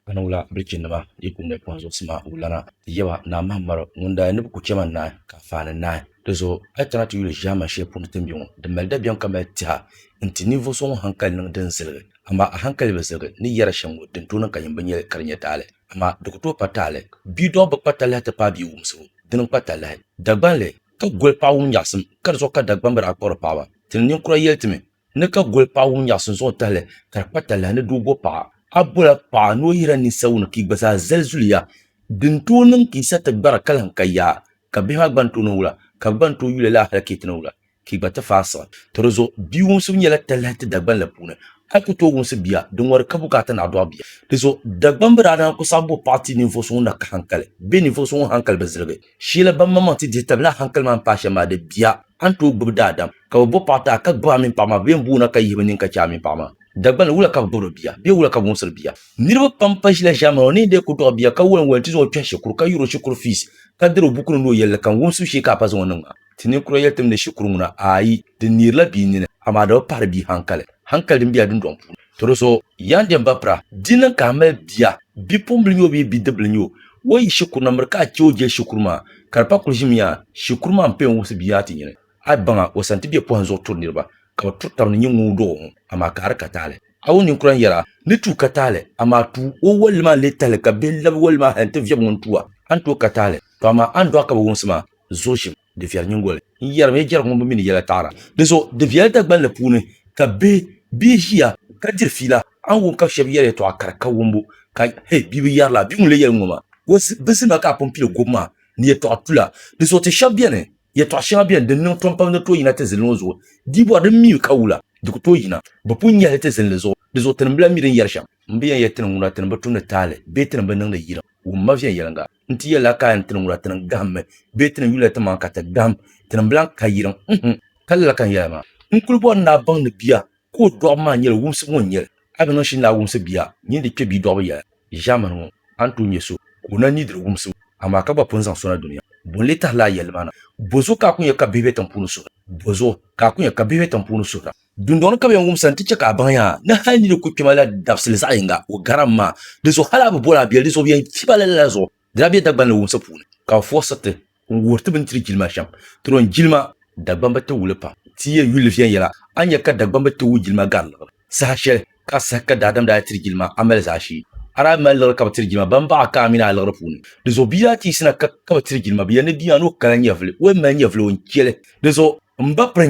Ka niŋ wula bilichinnima yi ku ŋmɛ pɔhim zuɣusima wulana ti yaba Naa Mahammaru ŋun daa ni bi ku chɛ ma naai ka a faani naai? Di zuɣu a yi kana ti yuli ʒiɛman shɛli puuni ti ni be ŋɔ, di mali dabiɛm ka mali tɛha nti ninvuɣ so ŋun haŋkali niŋ din ziligi, amaa a haŋkali bi ziligi ni yɛri a shɛm ŋɔ din tooi niŋ ka yim bi nyɛli ka di nyɛ taali. Amaa di ku tooi pa taali. Bidɔɣu bi kpa talahi ti paai bia wumsibu, di ni kpa talahi. Dagbanli ka goli paɣ wum nyaɣisim, ka di zuɣu ka Dagbamba daa kpuɣiri paɣaba. Ti ni ninkura yɛli ti mi, Ni ka goli paɣ ŋun nyaɣisi zuɣu tahili ka di kpa talahi ni doo bo paɣa. A bola paɣa ni o yihira ninsawuni ka yi gba zaa zali zuliya. Di ni tooi niŋ ka yi sa ti gbara ka lahi ka yaa, ka bihi maa gba ni tooi niŋ wula, ka bɛ gba ni tooi yuli laa hal ka yi ti niŋ wula, ka yi gba ti faasiɣi. Tɔ di zuɣu bia wumsibu nyɛla talahi ti Dagban la puuni. A yi ku tooi wumsi bia, di ŋɔri ka bukaata ni a dɔɣi bia. Di zuɣu Dagban bi daa naan ku saɣi bo paɣa ti ninvuɣ so ŋun na ka haŋkali bee ninvuɣ so ŋun haŋkali bi ziligi. Sheela ban maŋmaŋ ti dihi tabili a hankali maa m-paai shɛm maa di bia, a ni tooi gbibi daadam, ka bɛ bo paɣa ti a ka gbibi a mini paɣa maa bɛ yɛn booni a ka yihi bɛ nini ka chɛ a mini paɣa maa. Dagbaŋ ni, wula ka bɛ gbibiri bia, bee wula ka bɛ wumsiri bia? Niriba pam pa ʒila ʒiɛmani o ni yɛn deei ku dɔɣi bia ka walim walim ti zaŋ o kpɛhi shikuru ka yuri o shikuru fees ka diri o bukunima ni o yɛlli kam wumsibu shee ka a pa zaŋ o niŋ maa. Ti ninkura yɛli timdi shikuru ŋuna, Aai! Di neerila bia nini, amaa di bi pahiri bia hankali, hankali din be a dundɔŋ puuni. Tɔdɔso, yan dem ba pira, di niŋ ka a mali bia, bipuɣimbila n-nyɛ o bee bidibila n-nyɛ o, o yi yi shikuru na miri ka a chɛ o jɛli shikuru maa, ka di pa kuli ʒimi yaa, shikuru maa m-paya n-wumsi bia maa ti nyini. A yi baŋ a, o sani ti be pɔhim zuɣu turi niriba, ka bɛ turi taba ni nyini ŋun dɔg o ŋɔ, amaa ka a di ka taali. A wo ninkura n-yɛl a ni tuui ka taali, amaa tuui o walli maa n-lee tahili ka bihi labi walli maa hal nti viɛbi ŋun tu a, a ni tooi ka taali, tɔ amaa a ni dɔɣi ka bi wumsi ma. zooshim di viɛri nyingoli n yɛrim ya jɛrigu ŋun bi mi ni yɛla taɣira. Dinzuɣu di viɛli Dagbanli puuni ka bihi bee ʒiya ka diri fiila, a ni wum ka shɛba yɛri yɛtɔɣa kara ka wumbu ka hee bia bi yɛri la, bia ŋun lee yɛli ŋ-ŋɔ maa ka o zi bizi ma ka a pun pili gobu maa ni yɛtɔɣa tula. Dinzuɣu ti shɛba beni, yɛtɔɣa shɛŋa beni din niŋ tom pam ni tooi yina ti zilli ŋɔ zuɣu, di bɔri din mi mi ka wula di ku tooi yina, bi pun nyɛhi li ti zilli li zuɣu. Dinzuɣu tinim bila mi din yɛri shɛm. M bi yɛn yɛli tinim ŋuna tinim bi tumdi taali bee tinim bi niŋdi yirim wumma viɛnyɛliŋga. N ti yɛli a ka a yɛn ti ni wula ti ni gahim mi bee ti ni yuliya ti maŋa ka ti gahim ti ni bilaŋ ka yirim uhm ka lala ka n yɛli a maa. N kuli bɔri ni a baŋ ni bia ka o dɔɣibu maa nyɛla wumsibu ŋɔ n-nyɛli. A bi niŋ shini ni a wumsi bia nyin di kpe bia dɔɣibu yɛla ʒiɛmani ŋɔ a ni tooi nyɛ so ka o na ni diri wumsibu amaa ka gba pun zaŋ so na dunia. Bo n-lee tahila a yɛlli maa na? Bɔzuɣu ka a ku nya ka bihi be tiŋpuuni suhira? Bɔzuɣu ka a ku nya ka bihi be tiŋpuuni suhira? Dundɔŋ ni ka bɛ yɛn wumsa nti chɛ ka a baŋ a ni hal nini kul kpɛma la dabisili zaɣ yiŋga o garam maa. Dinzuɣu hal a bi bol a biɛli dinzuɣu bɛ yɛn fi ba lala zuɣu. Di daa be Dagbani ni wumsa puuni ka bɛ furisi ti n wuhiri ti bɛ ni tiri jilima shɛm. Turom jilima Dagbani bi ti wuli pam. Ti yi yɛli yuli viɛnyɛla, a ni nya ka Dagbani bi ti wui jilima gari liɣiri. Saha shɛli ka a sahi ka daadam daa tiri jilima a mali zaashee. A daa mali liɣiri ka bi tiri jilima ban baɣ a ka a mini a liɣiri puuni. Dinzuɣu bia daa teesina ka ka bi tiri jilima. Bɛ yɛli ni bia maa ni o kala nyɛvili, o yɛn mali nyɛvili o ni chɛ li. Dinzuɣu m ba piri.